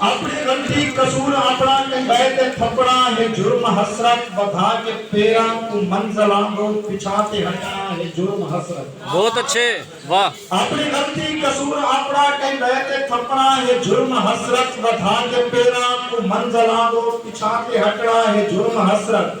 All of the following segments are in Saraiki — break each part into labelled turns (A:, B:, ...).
A: اپݨی غلطی قصور آپݨا کنگھائے تے تھپݨا ہے جرم حسرت ودھا کے پیراں کوں منزلاں دو پچھا تے ہٹݨا ہے جرم حسرت۔ بہت اچھے
B: واہ۔ اپݨی غلطی
A: قصور آپݨا کنگھائے تے تھپݨا ہے جرم حسرت ودھا کے پیراں کوں منزلاں دو پچھا تے ہٹݨا ہے جرم حسرت۔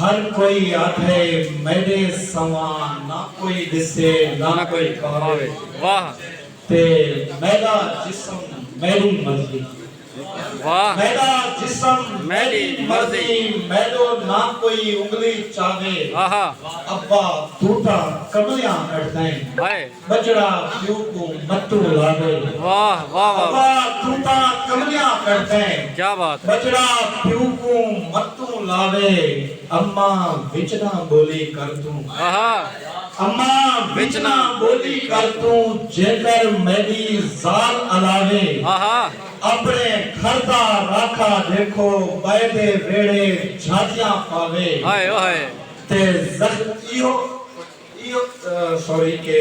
B: ہر کوئی
A: آکھے میڈے سواں نہ کوئی ڈسے نہ کوئی پاوے
B: تے
A: میڈا جسم میڈی مرضی
B: میڈا
A: جسم میڈی
B: مرضی میڈو نہ
A: کوئی انگلی چاوے
B: ابا
A: توٹا کملیاں کٹ دیں ٻجڑا
B: پیو
A: کوں متو لاوے۔ واہ واہ
B: واہ ابا توں تاں
A: کملیاں کرسیں۔ کیا بات ہے۔ ٻجڑا
B: پیو
A: کوں متو لاوے۔ اماں وچ نہ ٻولی کر توں۔ آہا۔
B: اماں
A: وچ نہ ٻولی کر توں۔ جیکر میݙی ذال الاوے۔ آہا۔
B: اپݨے
A: گھر دا راکھا ݙیکھو ٻئے دے ویڑھے جھاجیاں پاوے۔ ہائے او ہائے۔
B: تے
A: زخم ایہو۔ سوری کے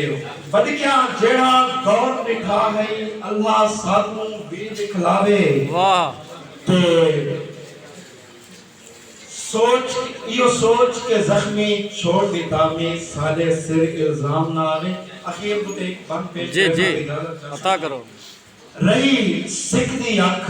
A: بدکیاں جیڑھا دور ڈٹھا ہئی اللہ سانوں وی دکھلاوے
B: تے
A: سوچ ایو سوچ کے زخمی چھوڑ دیتا میں سارے سر الزام نہ آوے اخیر کو تے بن پیش جی جی
B: عطا کرو رہی
A: سکھ دی اکھ